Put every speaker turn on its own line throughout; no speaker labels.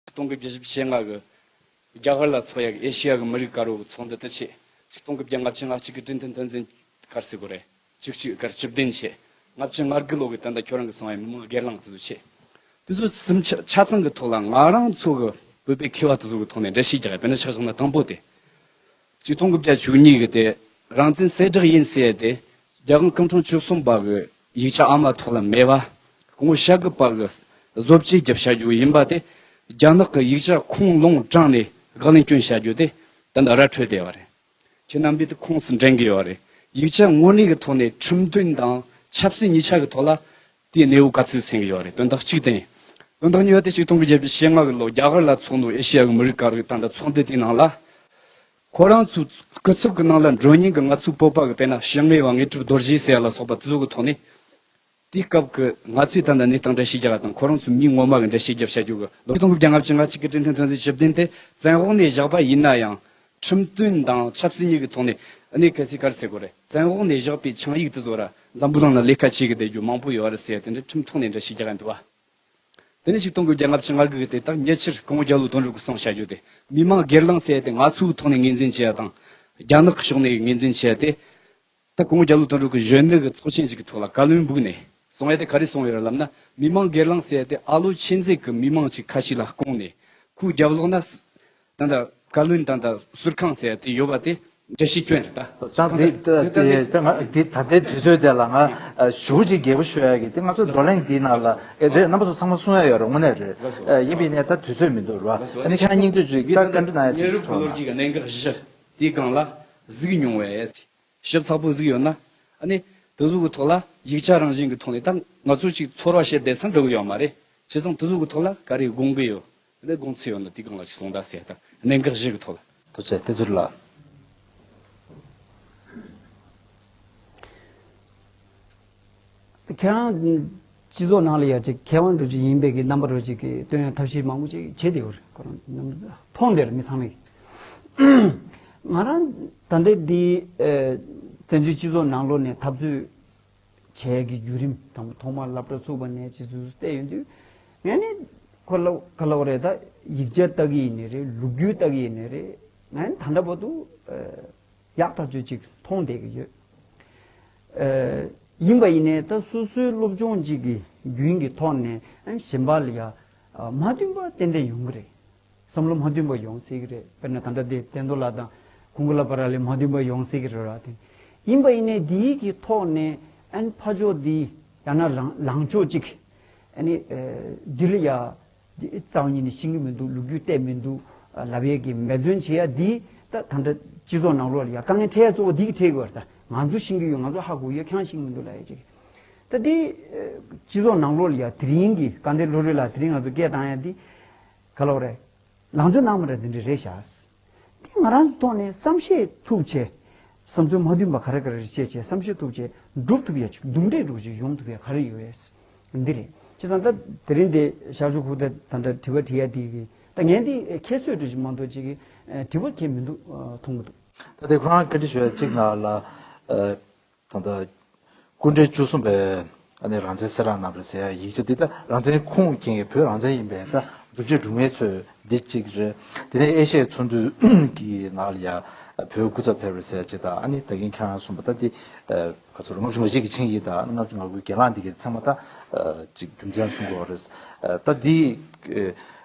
སྟོང་དགུ་བརྒྱ་བཞི་བཅུ་ཞེ་ལྔ་གི་རྒྱ་གར་ལ་མཚོ་ཡ་གི་ཨེ་ཤེ་ཡ་གི་མི་རིགས་དཀར་བོ་གི་ཚོགས་འདུ་དུ་ཆེད་གཅིག་སྟོང་དགུ་བརྒྱ་ལྔ་བཅུ་ང་གཅིག་གི་བཀྲིན་དོན་དོན་འཛིན་སྐར་སི་གོ་རེ་བཅུ་བཅུ་སྐར་བཅུ་བདུན་ཆེད་ལྔ་བཅུ་ལྔ་དགུ་ལོ་གི་དོན་དང་ཁྱོད་རང་གི་སོང་ཡ་མི་མང་སྒེར་ལངས་དུ་ཟུག་ཆེད་དུ་ཟུག་གསུམ་ཆ་ཚང་གི་ཐོག་ལ་ང་རང་ཚོ་གི་བོད་པའི་ཁེ་བ་དུ་ཟུག་གི་ཐོག་ནས་འདྲ་བཤིས་རྒྱག་ཡ་དཔེར་ན་ཆ་ཚང་ན་དང་པོ་དེ་བཅུ་སྟོང་དགུ་བརྒྱ་བཅུ་གཉིས་ཀྱི་སྟེ་རང་བཙན་གསལ་བསྒྲགས་ཡིན་ཟེར་ཏེ་རྒྱ་གང་སྐུ་འཁྲུངས་བཅུ་གསུམ་པ་གི་ཡིག་ཆ་ཨ་མ་ཐོག་ལ་མེད་པ་ངོ་ཤ་རྒུད་པ་གི་བཟོ་བཅོས་བརྒྱབ་བྱ་རྒྱུ་ཡིན་པ་དེ་རྒྱ་ནག་གི་ཡིག་ཆ་ཁུངས་ལུང་དྲངས་ནས་དགག་ལན་སྐྱོན་བྱ་རྒྱུ་དེ་ད་ནི་ར་འཕྲོད་བསྡད་པ་རེད། ཁྱེད་རྣམ་པས་དེ་ཁུངས་སུ་འདྲེན་གི་ཡོད་རེད། ཡིག་ཆ་དངོས་གནས་ཀྱི་ཐོག་ནས་ཁྲིམས་མཐུན་དང་ཆབ་སྲིད་གཉིས་ཆ་གི་ཐོག་ལ་དེའི་གནས་བབ་ག་ཚོད་ཟིན་གྱི་ཡོད་རེད་དོན་དག་གཅིག་དེ་ཡིན། དོན་དག་གཉིས་པ་དེ་གཅིག་སྟོང་དགུ་བརྒྱད་བརྒྱ་ཞེ་ལྔ་གི་ལོ་རྒྱ་གར་ལ་ཚོགས་འདུ་ཨེ་ཤི་ཡ་གི་མི་རིགས་དཀར་གི་ཐང་དང་ཚོགས་འདུ་དེའི་ནང་ལ། ཁོ་རང་ཚོའི་སྐུ་ཚབ་གི་ནང་ལ་མགྲོན་སྙིང་གི་ང་ཚོའི་སྤོབས་པ་གི་དཔེ་ན་ཞི་དངོས་བ་ངེས་གྲུབ་རྡོར་རྗེ་ཟེར་ཡ་ལ་སོགས་པ་གཙོས་ཀྱི་ཐོག་ནས། དེའི་སྐབས་ཀྱི་ང་ཚོའི་ད་ལྟ་གནས་སྟངས་འགྲེལ་བཤད་རྒྱག་ར་དང་ཁོ་རང་ཚོའི་མིང་ངོ་མ་གི་འགྲེལ་བཤད་རྒྱབ་བཤད་རྒྱུ་གི་ལོ་གཅིག་སྟོང་དགུ་བརྒྱ་ལྔ་བཅུ་ང་གཅིག་གི་བཀྲིན་ལྷན་ཐོན་རྫས་ཞིབ་བརྟན་དེ་བཙན་དབང་ནས་བཞག་པ་ཡིན་ན་ཡང། ཁྲིམས་མཐུན་དང་ཆབ་སྲིད་གཉིས་ཀྱི་ཐོག་ནས་གནད་གལ་སྲིད་ག་རེ་སེལ་དགོས་རེད་བཙན་འོག་ནས་བཞག་པའི་ཆིངས་ཡིག་དེ་ཚོ་ར་འཛམ་བུ་གླང་ན་ལས་ཀ་བྱེད་གི་བསྡད་རྒྱུ་མང་པོ་ཡོད་རེད་ཟེར་དེ་འདྲ་ཁྲིམས་ཐོག་ནས་འདྲ་ཞིག་རྒྱག་གི་འདུག་བ། དེ་ནས་ཞིག་གཏོང་དགོས་རྒྱ་ནག་ཕྱི་ངར་གི་དེ་དག་ཉེ་ཆར་གོང་རྒྱ་ལུགས་དོན་རུ་གུ་སོང་བྱ་རྒྱུ་དེ་མི་མང་སྒེར་ལངས་བྱས་ཏེ་ང་ཚོའི་ཐོག་ནས་ངེས་འཛིན་བྱས་ཡ་དང། རྒྱ་ནག་གི་ཕྱོགས་ནས་ངེས་འཛིན་བྱས་ཏེ། ད་དགོང་རྒྱ་ལོ་དོན་དྲུག་གི་གཞོན་ནུ་གི་ཚོགས་ཆེན་ཞིག་གི་ཐོག་ལ་བཀའ་བློན་འབུགས་ནས་སོང་ཡ་དེ་ག་རེ་སོང་ཡོད་ར་ལབ་ན་མི་མང་སྒེར་ལངས་བསད་དེ་ཨ་ལོ་ཆེན་རྩེད་གི་མི་མང་ཅིག་ཁ་ཤིག་ལ་བསྐོང་ནས་ཁུ་རྒྱབ་ལོག་ན་ད་ད་བཀའ་བློན་ད་ད་ཟུར་ཁང་བསད་དེ་ཡོད་པ་དེ་འདྲ་ཞིག་སྐྱོན་རེད་
ད། ད་ལྟའི་དུས་ཚོད་དེ་ལ་ང་ཞུ་ཅིག་རྒྱལ་པོ་ཤོད་ཡ་གི་དེ་ང་ཚོ་བགྲོ་གླེང་འདི་ནང་ལ་རེད་རྣམ་པ་ཚོ་ཚང་མ་གསུང་ཡ་ཡོད་ར་ངོ་ནས་རེད་ཡིན་པའི་ནས་ད་དུས་ཚོད་མི་འདུག་ར་ཨ་ནི་ཁྱེད་རང་སྙིང་དུས་ཅིག་ལྟ་གི་འདུག་ན་ཅིག་
ཐོ་ན། དེའི་སྒང་ལ་གཟིགས་མྱོང་བས། ཞིབ་ཚགས་པོ་གཟིགས་ཡོད་ན། ནི། དེ་གཟུགས་ཀྱི་ཐོག་ལ་ཡིག་ཆ་རང་བཞིན་གྱི་ཐོག་ནས་ད་ང་ཚོ་ཅིག་ཚོར་བ་བྱེད་བསྡད་ཚར་འགྲོ་གི་ཡོད་མ་རེད། བྱས་ཙང་དེ་གཟུགས་ཀྱི་ཐོག་ལ་ག་རེ་དགོངས་ཀྱི་ཡོད། ནི་དགོངས་ཚུལ་ཡོད་ན་དེའི་སྒང་ལ་ཅིག་གསུངས་བརྡ་བྱས་དང་གནད་འགག་བཞི་གི་ཐོག་ལ། དུ་བྱས་ཏེ་ཟུར་ལ།
ཁྱེད་རང་སྤྱི་ཚོགས་ནང་ལ་ཡ་གཅིག་མཁས་དབང་འགྲོ་གཅིག་ཡིན་པའི་གི་རྣམ་པ་རོ་གཅིག་གི་སྟོན་ཡ་ཐབས་ཤེས་མང་པོ་ཅིག་བྱེད་དེ་ཡོད་རེད་ཁོ་རང་མཐོང་དེ་རེད་མི་ཚང་མས་ང་རང་ད་ལྟའི་འདི་བཙན་བྱོལ་སྤྱི་ཚོགས་ནང་ལོག་ནས་འཐབ་རྩོད་བྱས་གི་བརྒྱུད་རིམ་དང་པོ་ཐོག་མར་བླ་བྲ་ཚུགས་པ་ནས་ཇི་ཙུག་ཙུག་བལྟས་ཡོང་དུས་ངས་ནི་ཁོ་ལ་ག་ལོག་རེད་ད་ཡིག་ཆ་ལྟ་གི་ཡིན་ནི་རེད་ལུགས་རྒྱུས་ལྟ་གི་ཡིན་ནི་རེད་ང་ནི་ད་འདྲ་བོ་འདུག། ཡག་ཐག་ཆོད་ཅིག་མཐོང་བསྡད་ཀྱི་ཡོད། ཡིན་པ་ཡིན་ནས་ད་སོ་སོའི་སློབ་སྦྱོང་གཅིག་གི་རྒྱུན་གྱི་ཐོག་ནས་གཞན་པ་ལ་ཡང་མ་མཐུན་པ་ཏན་ཏན་ཡོང་གི་རེད། བསམ་བློ་མ་མཐུན་པ་ཡོང་སྲིད་ཀྱི་རེད། དཔེར་ན་ད་ལྟ་དེ་བསྟན་རྡོར་ལགས་དང་གུང་གླ་པ་ར་ལས་མ་མཐུན་པ་ཡོང་སྲིད་ཀྱི་རེད་ར་དེ། ཡིན་པ་ཡིན་ནས་འདིའི་གི་ཐོག་ནས་ཨན་ཕ་ཕྱོགས་འདི་ཡང་ན་ལངས་ཕྱོགས་གཅིག་ཨ་ནི་འདི་ལ་ཡང་གཙང་གཉིས་ནི་ཤིང་གི་མི་འདུག་ལུག་ཁྱུ་གཏད་མི་འདུག་ལབ་གཡས་ཀྱི་འབད་བརྩོན་བྱེད་ཡ་འདི་ད་ད་འདྲ་སྤྱི་ཚོགས་ནང་ལོག་ཡ་དཀའ་ངལ་འཕྲད་ཡ་གཙོ་བོ་འདི་གི་འཕྲད་གི་བར་ད་ང་ཚོ་ཤིང་གི་ཡོད་ང་ཚོ་ཧ་གོ་གི་ཡོད་ཁྱང་ཤིང་མི་འདུག་ལ་ཡ་ཅིག་ད་འདི་སྤྱི་ཚོགས་ནང་ལོག་ཡ་དེ་རིང་གི་དཀའ་འདས་བློ་གྲོས་ལ་དེ་རིང་ང་ཚོ་སྐད་བཏང་ཡ་འདི་ག་ལོག་རེད་ལང་ཚོ་ནང་མི་འདྲ་འདི་འདྲ་རེད་ཤགས། དེ་ང་རང་གི་ཐོག་ནས་བསམ་ཤེས་ཐུབ་བྱེད། བསམ་ཚུལ་མ་མཐུན་པ་ག་རེ་ག་རེ་རེ་བྱས་བྱས་བསམ་ཤེས་ཐུབ་བྱེད་འགྲུབ་ཐུབ་ཡ་ཆུག་འདུམ་འགྲིག་འགྲུབ་བྱེད་ཡོང་ཐུབ་ཡ་ག་རེ་ཡོད་ཡས། འདི་རེད། བྱས་ཙང་ད་དེ་རིང་འདི་ཞག་བཞུགས་ཁུག་ད་ད་འདྲ་དྲི་བ་དྲི་ཡ་འདི་གི་ད་ངས་འདི་ཁྱེད་གསོད་དྲི་ཞིག་མ་འདུག་ཅིག་གི་དྲི་བ་ཁྱེད་མི་འདུག་མཐོང་མ་འདུག། ད་དེ་ཁོ་རང་ཁ་
དྲི་ཞུ་ཡ་ཅིག་ང་ལ། ད་ལྟ་སྐུ་འབྲས་བཅུ་གསུམ་པའི་ཨ་ནེ་རང་བཙན་སེ་ར་རྣམས་རེད་ཟེར་ཡ་ཡིག་ཆ་འདི་ད་རང་བཙན་ཁུངས་སྐྱེལ་མཁན་བོད་རང་བཙན་ཡིན་པའི་ད་སྒྲུབ་བྱེད་སྒྲུབ་ངེས་ཚོས་འདི་གཅིག་རེད། དེ་ནས་ཨེ་ཤ་ཡའི་ཚོང་འདུས་ཀྱི་ནང་ལ་ཡ་བོད་སྐུ་ཚབ་ཕེབས་རེད་ཟེར་ཡ་ཅིག་ད་ཨ་ནེ་ད་གིན་ཁྱེད་རང་གསུངས་པ་ད་འདི་ག་ཚོད་རེད་ལྔ་བཅུ་ང་ཞིག་གི་ཆིངས་ཡིག་ད་ལྔ་བཅུ་ང་དགུའི་གྱེན་ལངས་འདི་གའི་ཚང་མ་ད་ཅིག་རྒྱུ་མཚན་གསུངས་དགོས་རེད། ད་འདི་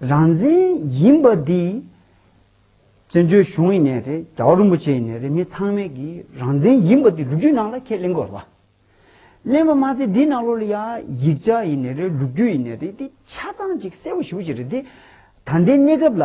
རང་བཙན་ཡིན་པ་འདི་བཙན་བྱོལ་གཞུང་ཡིན་ནས་རེད་རྒྱ་བ་རིན་པོ་ཆེ་ཡིན་ནས་རེད་མི་ཚང་མས་ཀྱི་རང་བཙན་ཡིན་པ་འདི་ལུགས་རྒྱུད་ནང་ལ་ཁས་ལེན་དགོས་རེད་པ། ལེན་པ་མ་ཚད་འདི་ནང་ལོ་ལ་ཡ་ཡིག་ཆ་ཡིན་ནས་རེད་ལུགས་རྒྱུད་ཡིན་ནས་རེད་འདི་ཆ་ཚང་ཅིག་གསལ་བོ་ཞུ་བྱེད་རེད་འདི་ད་ལྟའི་གནས་སྐབས་ལ